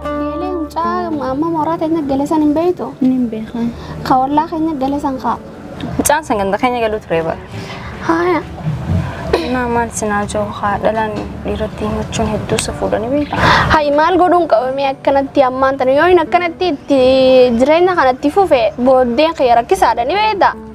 Eelee mucaa amma mooraa keenya galesan hin beektu. Nin beekan. Ka ollaa keenya galesan kaa. Mucaan san ganda keenya galuu ture bara. Haaya. Naa maal sinaa jiru haa dhalaan dhiiratti himachuun hedduu isa fuudhanii beekta. Hayi maal godhuun qabamee akkanatti ammaan tana yoo hin akkanatti itti jireenya kanatti fufe booddeen kee rakkisaadha ni beekta.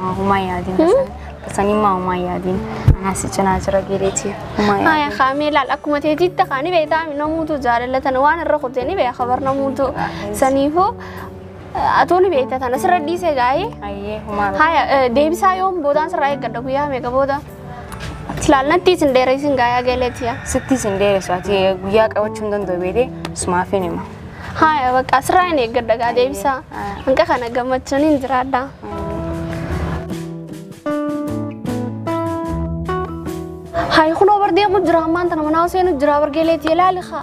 Haa, Humaa yaadiin basan. Basanii maa humaa yaadiin. Anaa si cinaa jira geeleetii. Humaa yaadiin. Haya kaamee laal akkuma ta'e jitta kaani beektaa namuutu jaalala tana waan irra kutee ni beeka kabar namuutu saniifuu atuu ni beekta tana sirra dhiisee gaa'ee. Ayyee humaa. Haya deebisaa yoom boodaan sirraa eeggadha guyyaa meeqa booda. Silaal natti isin dheereessin gaayaa galee tiya. Sitti isin dheeressu ati guyyaa qabachuu hin danda'u beekee sumaafin hima. Haaya bakka asirraa hin eeggadha gaa deebisaa. Hanqa kana gammachuun hin jiraadha. Hayi kunoo bar deemu jira ammaan tana manaa seenu jira bar geeleetii ilaali haa.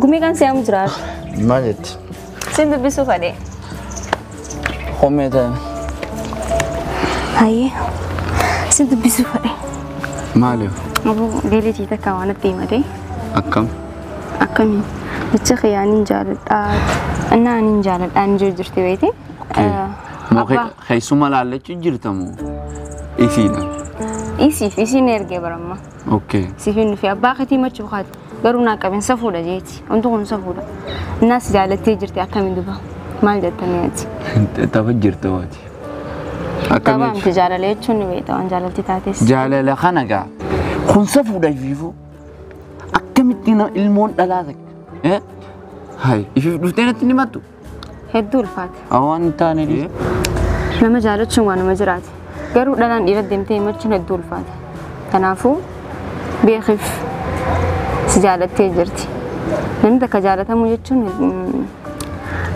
Gumii kan se'amu jiraatu. Maal jetti? Sin dubbisuu fadhee. Homee ta'e. Hayyee. Sin dubbisuu fadhee. Maaliif? Aboo deelitii takka waan natti himatee. Akkam? Akkamiin? Jecha kiyyaa nin jaaladhaa. Innaa nin jaaladhaa ni jirti beekti. Moo Abbaa keessuma laallachuu jirtamoo? Isiidha. isiif isiin ergee baramma. Okay. siif hin dhufe abbaa keetii machuu kaati garuu naa qaben safuudha jeeti wanti kun safuudha innaa si jaalattee jirti akkamiin duba maal jettanii ati Tapha jirta waati. Taphaa Akkamitti? miti jaalala jechuun ni beekta waan jaalalti taates Jaalala kana gaa. Kun safuudha ifiifuu. Akkamitti na- ilmoon dhalaa takka. Eh? Hai, ifiif dhuftee natti hin himattu. Hedduu ulfaata. Awwaan hin taane dhiise. Nama jaalachuun waanuma jiraate. Garuu dhalaan dhiira deemtee himachuun hedduu ulfaata. Kanaafuu beekif si jaalattee jirti. Namni takka jaalatamuu jechuun mm,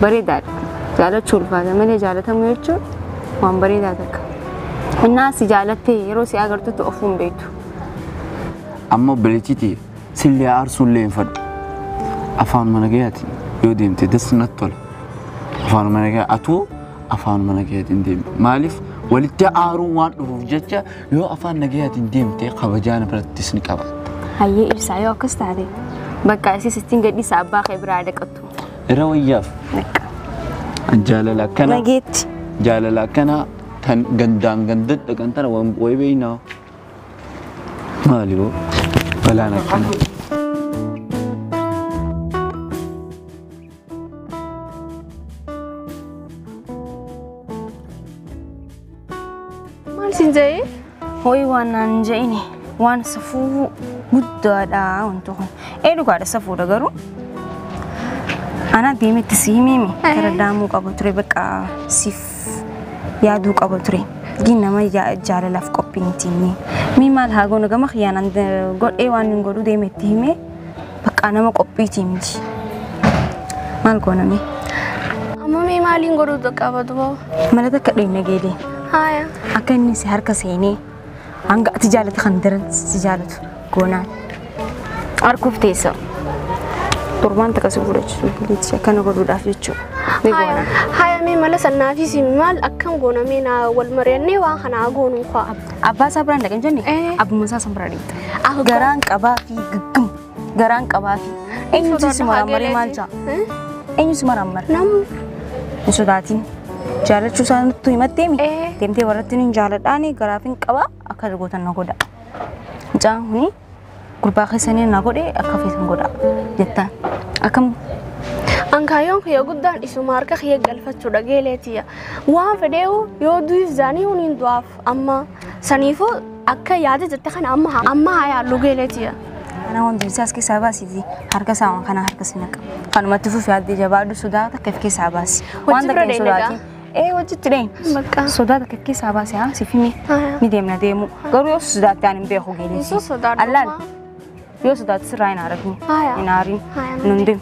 bareedaadha. Jaalachuu ulfaata malee jaalatamuu jechuun waan bareedaa takka. Innaa si jaalattee yeroo si agartutti ofuu hin beektu. Ammoo bilichitiif Sillee aarsuullee hin fadhu. Afaanuma nagayaatiin yoo deemte das natti tola. Afaanuma nagayaa atuu afaanuma nagayaatiin deemi. Maaliif walitti aaruun waan dhufuuf jecha yoo afaan nagayaatiin deemte kabajaan birattis ni qabaatta. Hayyee ibsaa yoo akkas taate bakka isis ittiin gadhiisa abbaa kee biraa dhaqattu. Irra wayyaaf Bakka. jaalala akkana Nageetti. jaalala akkana tan gandaan gandadha kan tana waan wayi beeynaa. Maali boo? Balaan akkana. Maal siin ja'ee? Ho'i waan naan hin ja'ini waan safuu guddaadha wanti kun. Ee dhugaadha safuudha garuu. Anaa deemetti si himiimi. Gara daamuu qabu ture bakka siif Anis yaaduu qaba ture. Diin nama ja- jaalalaaf qophii miti inni. Mee maal haa goonu gama kiyyaan an godhee waan hin godhu deeme itti himee bakka nama qophiitii miti. Maal goona mee? Amma mee maaliin godhuu qaba duba? Mala takka dheenna geedee Haaya. akka inni si harka seenee Hanga ati jaalate kan daran si jaalatu goonaan. Arguuf teessa. Torbaan takka si godhachiisuuf dandeetti akkana godhuudhaaf jechuudha. Ni goona. Haya mee mala sannaafis maal akkam goona mee naa wal mari'annee waan kana haa goonu faa. Abbaa isaa biraan dhaqan jenne Eh. abbuma isaa san biraa deemta. Ah, Garaan qabaa fi gaggam. Garaan qabaafi. Eenyutu si maraammaree maal ja'a? Eenyu si maraammare? Namni. Hin sodaatin. Jaalachuu isaa nuttu himatteemi. Ee. Deemtee warratti hin jaaladhaani garaaf hin qabaa akka gootan na godha. Mucaan kuni gurbaa keessanii na godhe akka feetan godha jettaan. Akkam Ankaayyoon kiyya guddaan isuma harka kiyya galfachuudha geeleetiya. Waan fedheewu yoo du'is zaanii huniin du'aaf. Amma saniifuu akka yaada jette kana amma haa- amma haa yaallu geeleetiya. Ana waan dursee as keessaa baasiti harka isaa waan kana harka si naqa. Kanumatti fufi addee jabaadhu sodaa takka if keessaa baasi. Hojii Waan takka bira hin deemna sodaati. Ee hojiitti deemi. Bakka. Sodaa takka if keessaa baasi haa si fimi. Haa. Ni deemna deemu. Garuu yoo sodaatte ani hin beeku Yesuus geelisi. sodaadhu. Allaal yoo sodaatte sirraa hin haarafne. Haaya. Hin haarin. Haaya, Nun deemu.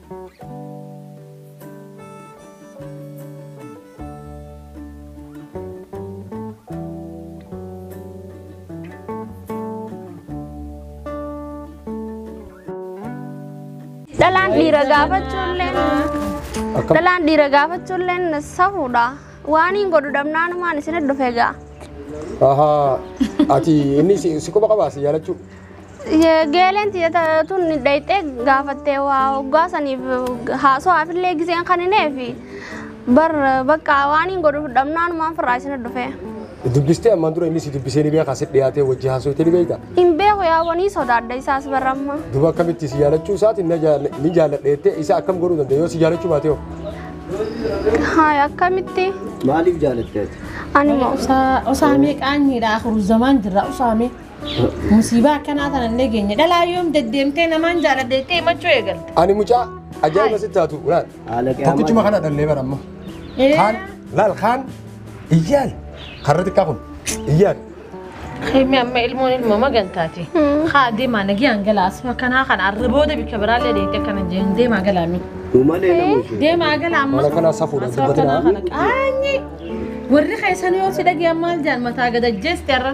Dhalaan dhiira gaafachuulleen Akkam? dhalaan dhiira gaafachuulleen safuudha. Waan hin godhu dhabnaanumaan isin dhufee ga'a. Ahaa, ati inni si si quba qabaa si jaalachuu. Geeleen tiyata tun dhayxee gaafattee waa hoggaa saniif haasa'aaf illee giseen kan hin eefi bar bakka waan hin godhu dhabnaan maan firraa isin dhufee. Dubbistee ammaan dura inni si dubbisee ni beekaa si dhiyaatee wajji haasofte ni beekta. Hin beeku yaa wanii sodaadha isaas barramma. Duba akkamitti si jaalachuu isaatiin na jaal- ni jaalladha jettee isa akkam godhuu danda'a yoo si jaalachuu baate hoo? Haay akkamitti Maaliif jaalatte ati? ani moo. Usaa usaa meeqaan miidhaa akhiru zamaan jirra usaa mee. Musiibaa akkanaa sana illee geenye. Dhalaa yoom deddeemtee namaan jaaladha jettee himachuu eegalte. Ani mucaa ajaa'iba sitti haatu laal. Tokkichuma kana dhallee bara amma. Kaan laal kaan iyyaan karra xiqqaa kun iyyaan. Kemi amma ilmoon ilmoo magantaati. Haa deemaa nagiyaan galaa asuma kanaa kana arra booda bikka biraallee deemtee akkana jeen deemaa galaa mi. Umalee nama ishee. Deemaa galaa amma. Mala kanaa safuudha Asuma dubbatina. kanaa kana qaanyi. Warri keessan yoo si dhageessan maal jaan mataa gadajjeesti arra.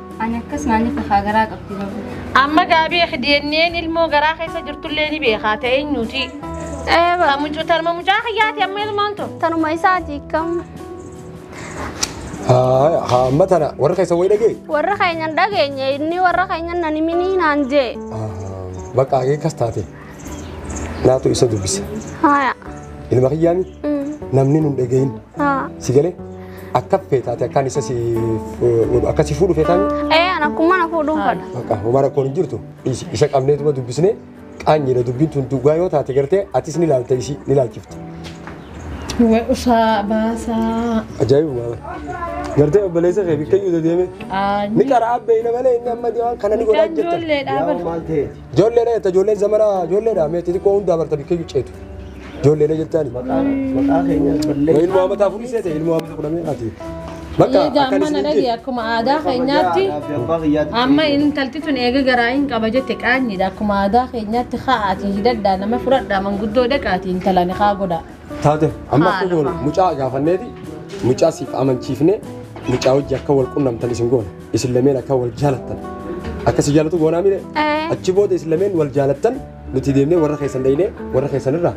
Ani akkas naanni fakaa garaa qabdi babu. Amma gaabii DNA'n ilmoo garaa keessa jirtullee ni beekaa ta'e eenyuuti? Eeba. Mucuu tarma mucaa kiyyaati amma ilmoon tun. Tanuma isaati kam. Haaya, haa amma tana warra keessa wayii dhagee. Warra keenya hin dhageenye inni warra keenya nan himinii naan jee. Bakka hagee akkas taate. Naatu isa dubbisa. Haya. Ilma kiyyaami namni nun dhagahin Haa. si galee akka feetaati akkaan isa si akka si fuudhu feetaami. Ee an akkuma na fuudhuun fadha. Bakka homaa rakkoon hin jirtu Is- isa qabneetuma dubbisnee qaanyiidha dubbiin tun dhugaa yoo taate gartee atis ni laalta isii ni laalchifta. Wee usaa baasaa. Ajaa'iba maala. Gartee obboleessa kee bikkayyuu dedeeme. Ni qara abbeeyna malee inni amma deemaa kana ni godhaa Mucaan jirta. ijoolleedhaa Yaa bar. maal ta'eeti? Ijoolleedha jetta ijoolleen zamana ijoolleedha mee xixiqqoo hundaa barta bikkeeyyuu ceetu. Ijoolleedha jettaani. Maqaa keenya ballee. Ilmoo hamataa furii seete ilmoo hamataa fudhamee ati. Bakka Egaa akkan amma na isin dhage jee. akkuma aadaa keenyaatti Abbaa kiyyaatti. amma intalti tun eega garaa hin qaba jette qaanyiidha akkuma aadaa keenyaatti ka'aati hidhadhaa nama fudhadhaa manguddoo dhaqaati intala ni kaa godhaa. Taate amma akka Haala goonu fa'a. mucaa gaafanneeti mucaa siif amanchiifne mucaa hojii akka wal qunnamtan isin goona. Isin lameen akka wal jaalattan. Akka si jaalatu goonaa mire. Ee. Achi booda isin lameen wal jaalattan nuti deemnee warra keessan dhaynee warra keessan irraa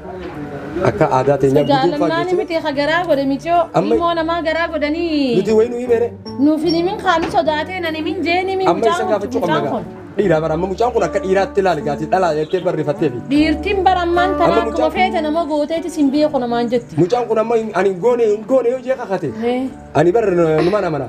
akka aadaa teenyaa guduunfaa Jaalallaan geessine. miti ka garaa godhe miciyoo Amma- ilmoo namaa garaa godhanii Nuti wayii nu himeere. nuuf hin himin kaanu sodaatee nan himin jeen himin Amma isa mucaan kun gaafachuu qabna mucaan gaa. kun. Dhiiraa bara amma mucaan kun akka dhiiraatti ilaali gaati dhalaa jettee barreeffattee fi. Dhiirtiin bara ammaan Amma tanaa akkuma mucaan- feete nama gooteeti sin biyya kunamaan jetti. Mucaan kun amma hin- ani hin goone hin goone yoo jee kakate. Ee. Ani bar numan amana.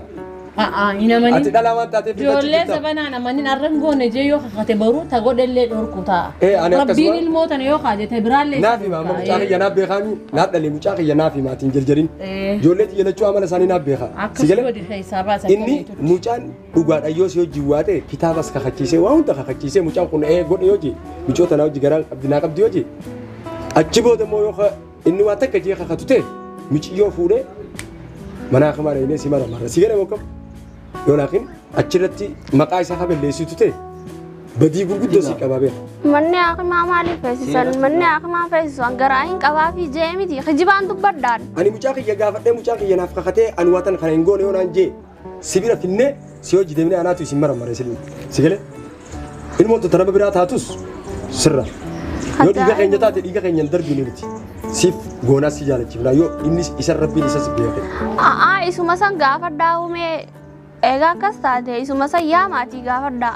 A'a hin Ati amanin. dhalaa waan taateef filachu Ijoollee jirta. sabanaan amanin arran goone jee yoo kakate baruu ta godhellee dhorku ta'a. Eh, ani akkasuma- Rabbiin ilmoo tana yoo kaajete biraallee Naaf hima amma mucaa kiyya naaf beekaami. Naaf dhalee mucaa kiyya naaf hima ati hin jarjarin. Eh. Ijoollee tiyya lachuu amala isaanii naaf beeka. Akka Si galee? godhi keessaa baasan Inni mucaan dhugaadha yoo si hojii waate kitaabas kakachiisee waa hunda kakachiisee mucaan kun ee godhe yoo ji micoota naa hojii garaa qabdi naa qabdi yoo ji achi booda immoo yoo ka- Inni waan takka jee kakatu ta'e miciyyoo fuudhee manaa kamaa dhaynee si mara marra si gana bokkam yoo laakin achirratti maqaa isaa ka balleessitu ta'e badii gurguddoo si qabaa beeka. Manni hakimaa maaliif feesisan? Manni hakimaa feesisan garaa hin qabaa fi jee miti kijibaan dubbadhaan. Ani mucaa kiyya gaafadhee mucaa kiyya naaf kakatee ani waatan kana hin goone yoo naan jee Si bira finnee si hojii deemnee anaatu isin marmaree silmi. Si galee? Ilmoon tun tanaba biraa taatus sirra. Yoo dhiiga keenya taate dhiiga keenya hin darbiin nuti. Siif goonaa si jaalachifna yoo inni isa rabbiin isa si beeke. A'aa isuma san gaafadhaa uumee egaa akkas taate isuma san yaa maatii gaafadhaa.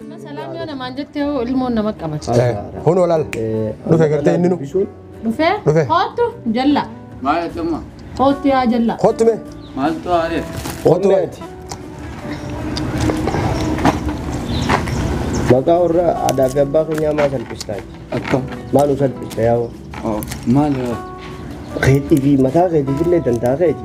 Amma salaam yoo namaan jettee hoo ilmoon nama qabata. Kun olaal. Dhufe gartee inni nu. Dhufee Dhufee. hoottu jalla Maal jechuun hoottu yaa jalla. Kottu mee. maaltu haaree? Kottu mee. Maqaa warra aadaa fi abbaa keenyaa maa salphistaa? Akkam? Maa nu salphista yaa Maal yoo? keetii fi mataa keetii illee dantaa keeti.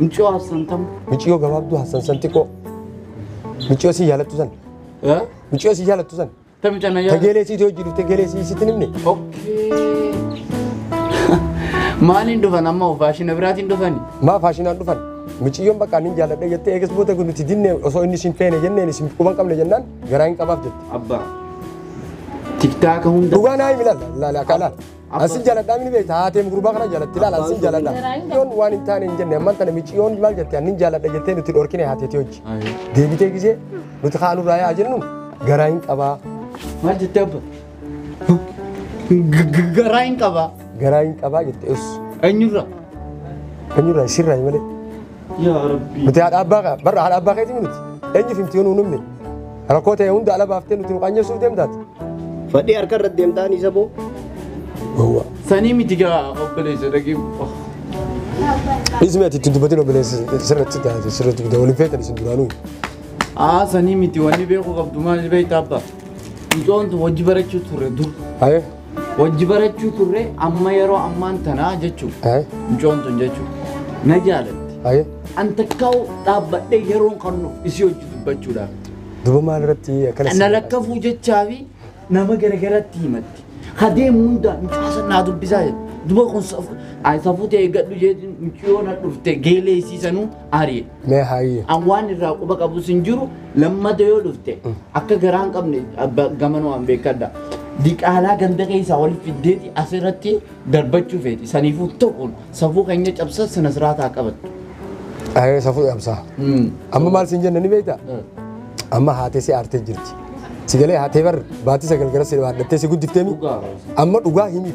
Miciyoo Hassan tam. Miciyoo gabaabduu Hassan san xiqqoo. Miciyoo si jaalattu san. Miciyoo si jaalattu san. Tamicha na yaala. Tegeelee siiti hojii dhufte tegeelee si sitti nimne. Maaliin dhufan amma faashina biraatiin dhufani? Maa faashinaan dhufan? Miciyyoon bakka nin jaaladha jettee eegas booda kun nuti dinne osoo inni isin feene jenneen isin quban qabne jennaan garaa hin qabaaf jette. Abbaa. Tiktaaka hunda. Dhugaa naa himi laala laala akka laala. Ansin jaladhaa mini beekta haatee gurbaa kana jalatti ilaala ansin jaladha. Yoon waan hin taane hin jenne amman tana mici yoon maal jette annin jaladha jettee nuti dhorkine haateeti hojji. Deebitee gisee nuti kaanuu raayaa jennu garaa hin qabaa. Maal jettee abba? Garaa hin qabaa. Garaa hin qabaa jette us. Eenyurra? Eenyurra isirraa malee. Yaa Rabbii. Nuti haadha abbaa kee barra haadha abbaa keetii miti. Eenyuuf himti yoo nu hin himne. Rakkoo ta'e hunda ala baaftee nuti nu qaanyeessuuf deemtaati. Fadhii harka irratti deemtaan isa boo. Gowwaa. Sanii miti gaa obboleessa dhagee. Dhiisni ati itti dubbatiin obboleessa sirratti taate sirratti guddaa waliin feetan isin duraanuu. Aa sanii miti wanni beeku qabdu maal beektaa abbaa. Mucoontu hojii barachuu turre dur. Ayee. Wajji barachuu turre amma yeroo ammaan tanaa jechuun Aye. mucoon tun jechuun na jaalatti. Aye. An takkaa'u dhaabbadhee yeroon kan nuuf isii hojii dubbachuudhaaf. Duba maal irratti akkana Na si- lakkafuu jechaa fi nama garagaratti himatti. Hadeemu hundaan mucaasa naa dubbisaa jedhu. Duba kun safuu ta'e gadhu jedhu muciyoo na dhufte geelee isiisanuu ari'e. Mee haayyi. An waan irraa quba qabus hin jiru lammata yoo dhufte akka garaa hin qabne abba- gamanoo an beekadha. Diqaalaa ganda keessaa wal fiddeeti asirratti darbachuu feeti. Saniifuu tokkoon safuu keenya cabsa sana siraataa qabattu. Ayee safuu dhabsaa. Mm. Amma maal siin jenna ni beektaa? Eh. Amma haatee si aartee jirti. Si galee haatee bar baatii sagal gara si dhaadhattee si guddifteemi. Dhugaa. Amma dhugaa himiif.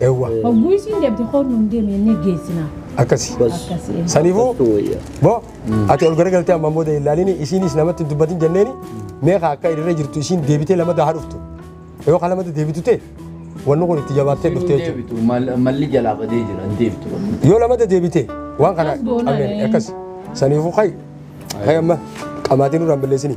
Eewwa. Hogguu isiin deemte koon nuun deeme inni geessina. Akkasi. Akkasi. Saniifuu boo ati ol garagaltee amma booda hin ilaalini isiinis namatti hin dubbatin jenneeni meeqa akka irra jirtu isiin deebitee lamada haa dhuftu. Yoo kan lamada deebitu ta'e wanni kun itti jabaattee dhuftee jechuudha. deebitu mal- malli jalaa badee jira hin deebitu. Yoo lamada deebitee waan kana Akkas goona qabeen ree. akkasi. Saniifuu kayi. Kayi amma qamaatiin nurraan balleessini.